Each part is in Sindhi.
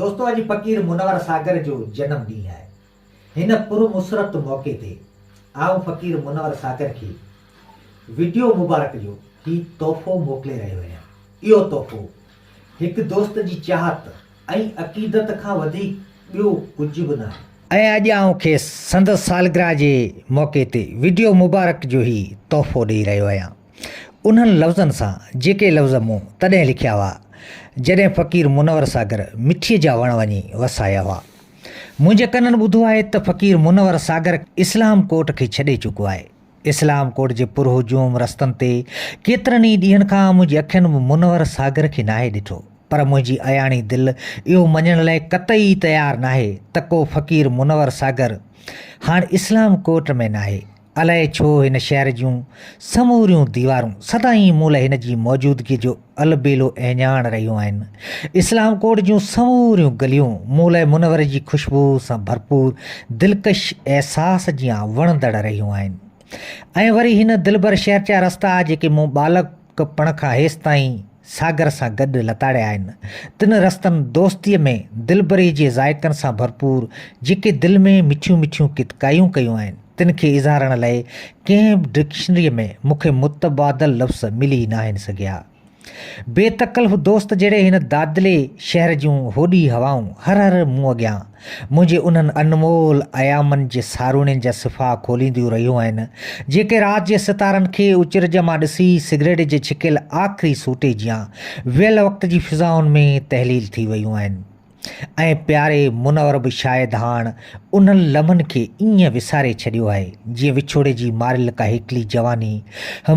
دوستو اڄ فقير منور ساگر جو جنم ڏينهن آهي هن پر مسرت موقعي تي آئون فقير منور ساگر کي وڊيو مبارڪ جو هي تحفو موڪلي رهيو اهيان اهو تحفو هڪ دوست جي چاهت ۽ عقيدت کان وڌيڪ ٻيو ڪجهه به ناهي. ۽ اڄ آئون کيس سندس سالگرهه جي موقعي تي وڊيو مبارڪ جو هي تحفو ڏئي رهيو اهيان. انهن لفظن سان جيڪي لفظ مون تڏهن لکيا هئا، جڏهن فقير منور ساگر مٺيء جا وڻ وڃي وسايا هئا. منهنجي ڪنن ٻڌو آهي ته فقير منور ساگر اسلام ڪوٽ کي ڇڏي چڪو آهي. اسلام ڪوٽ جي پر هجوم رستن تي ڪيترن ئي ڏينهن کان منهنجي اکين به منور ساگر کي ناهي ڏٺو، پر منهنجي اياڻي دل اهو مڃڻ لاء قطعي تيار ناهي ته ڪو فقير منور ساگر هاڻ اسلام ڪوٽ ۾ ناهي. الائي ڇو هن شهر جون سموريون ديوارون سدائين مون لاء هن جي موجودگيء جو البيلو اهڃاڻ رهيون آهن. اسلام ڪوٽ جون سموريون گليون مون لاء منوري جي خوشبوء سان ڀرپور دلڪش احساس جيان وڻندڙ رهيون آهن ۽ وري هن دلبر شهر جا رستا جيڪي مون ٻالڪ ڪ پڻ کان هيستائين ساگر سان گڏ لتاڙيا آهن. تن رستن دوستيء ۾ دلبري جي ذائقن سان ڀرپور جيڪي دل ۾ مٺيون مٺيون ڪت ڪايون ڪيون آهن، تن کي اظهارڻ لئه ڪنهن به ڊڪشنريء ۾ مون کي متبادل لفظ ملي ناهن سگهيا. بي تڪلف دوست جهڙي هن دادلي شهر جون هوڏي هوائون هر هر مون اڳيان منهنجي انهن انمول ايامن جي ساروڻين جا صفحا کولينديون رهيون آهن، جيڪي رات جي ستارن کي اچرج مان ڏسي سگريٽ جي ڇڪيل آخري سوٽي جيان ويل وقت جي فضائن ۾ تحليل ٿي ويون آهن ۽ پياري منور به شايد هاڻ انهن لمحن کي ائين وساري ڇڏيو آهي جيئن وڇوڙي جي ماريل ڪا هيڪلي جواني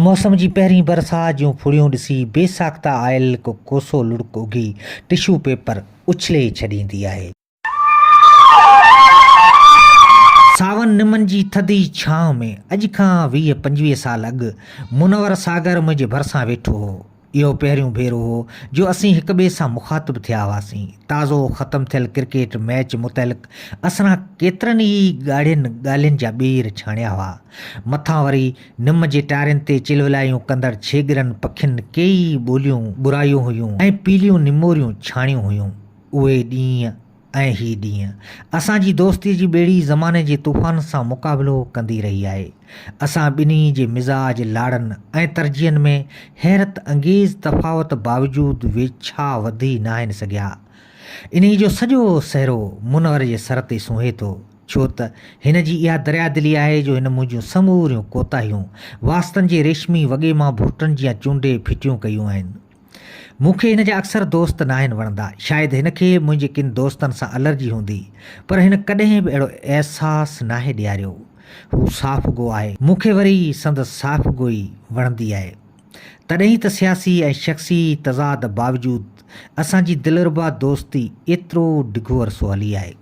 موسم جي پهرين برسات جون ڦڙيون ڏسي بي ساخته آيل هڪ ڪوسو لڙڪ اگهي ٽشو پيپر اڇلي ڇڏيندي آهي. ساون نمن جي ٿڌي ڇانو ۾ اڄ کان ويهه پنجويهه سال اڳ منور ساگر منهنجي ڀرسان ويٺو هو. اهو پهريون ڀيرو هو جو اسين هڪ ٻئي سان مخاطب ٿيا هئاسين. تازو ختم ٿيل ڪرڪيٽ ميچ متعلق اسران ڪيترن ئي ڳاڙهين ڳالهين جا ٻير ڇاڻيا هئا. مٿان وري نم جي ٽارين تي چلولايون ڪندڙ ڇيڳرن پکين ڪيئي ٻوليون ٻرايون هيون ۽ پيليون نموريون ڇاڻيون هيون. اهي ڏينهن ۽ هي ڏينهن. اسان جي دوستي جي ٻيڙي زماني جي طوفان سان مقابلو ڪندي رهي آهي. اسان ٻنهي جي مزاج، لاڙن ۽ ترجيحن ۾ حيرت انگيز تفاوت باوجود ويڇا وڌي ناهن سگهيا. انهي جو سڄو سهرو منور جي سر تي سونهي ٿو. ڇو ته هن جي اها دريا دلي آهي جو هن منهنجيون سموريون ڪوتاهيون واسطن جي ريشمي وڳي مان ڀورٽن جيان چونڊي ڦٽيون ڪيون آهن. مون کي هن جا اڪثر دوست ناهن وڻندا. شايد هن کي منهنجي ڪن دوستن سان الرجي هوندي. پر هن ڪڏهن به اهڙو احساس ناهي ڏياريو. هو صاف گو آهي. مون کي وري سندس صاف گوئي وڻندي آهي. تڏهن ئي ته سياسي ۽ شخصي تضاد باوجود اسان جي دلربا دوستي ايترو ڊگهو عرصو هلي آهي.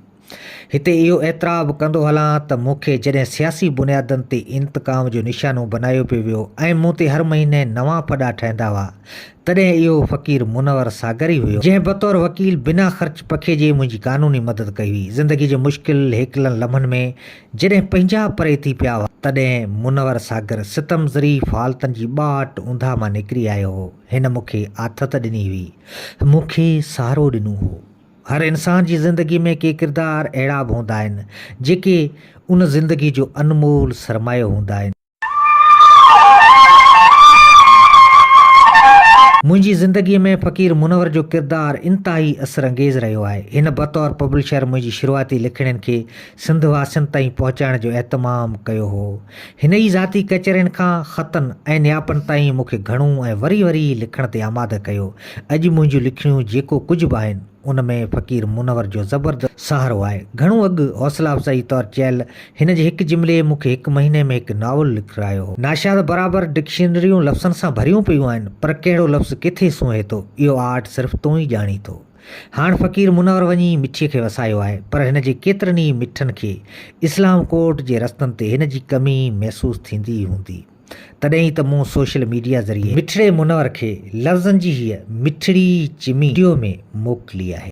هتي اهو اعتراف به ڪندو هلان ته مون کي جڏهن سياسي بنيادن تي انتقام جو نشانو بنايو پيو ويو ۽ مون تي هر مهيني نوان ڦڏا ٺهندا هئا تڏهن اهو فقير منور ساگر ئي هيو جنهن بطور وڪيل بنا خرچ پکيجي منهنجي قانوني مدد ڪئي هئي. زندگي جي مشڪل هيڪلن لمحن ۾ جڏهن پنهنجا پري ٿي پيا هئا تڏهن منور ساگر ستم ظريف حالتن جي ٻاٽ اونداهه مان نڪري آيو هو هن مون کي آٿت ڏني هئي مون کي سهارو ڏنو هو. هر انسان جي زندگي ۾ ڪي ڪردار اهڙا به هوندا آهن، جيڪي ان زندگي جو انمول سرمايو هوندا آهن. منهنجي زندگيء ۾ فقير منور جو ڪردار انتهائي اثر انگيز رهيو آهي. هن بطور پبلشر منهنجي شروعاتي لکڻين کي سنڌ واسين تائين پهچائڻ جو اهتمام ڪيو هو. هن ئي ذاتي ڪچهرين کان خطن ۽ نياپن تائين مون کي گهڻو ۽ وري وري لکڻ تي آماده ڪيو. اڄ منهنجون لکڻيون جيڪو ڪجهه به آهن، ان ۾ فقير منور جو زبردست سهارو آهي. گهڻو اڳ حوصلا افزائيء طور چيل هن جي هڪ جملي مون کي هڪ مهيني ۾ هڪ ناول لکرايو هو. ناشاد برابر ڊڪشنريون لفظن سان ڀريون پيون آهن، پر ڪهڙو لفظ ڪٿي سونهي ٿو، اهو آرٽ صرف تون ئي ڄاڻين ٿو. هاڻ فقير منور وڃي مٺيء کي وسايو آهي، پر هن جي ڪيترن ئي مٺن کي اسلام ڪورٽ جي رستن تي هن جي ڪمي محسوس ٿيندي ئي هوندي. تڏهن ئي ته مون سوشل ميڊيا ذريعي مٺڙي منور کي لفظن جي هيء مٺڙي چمي وڊيو ۾ موڪلي آهي.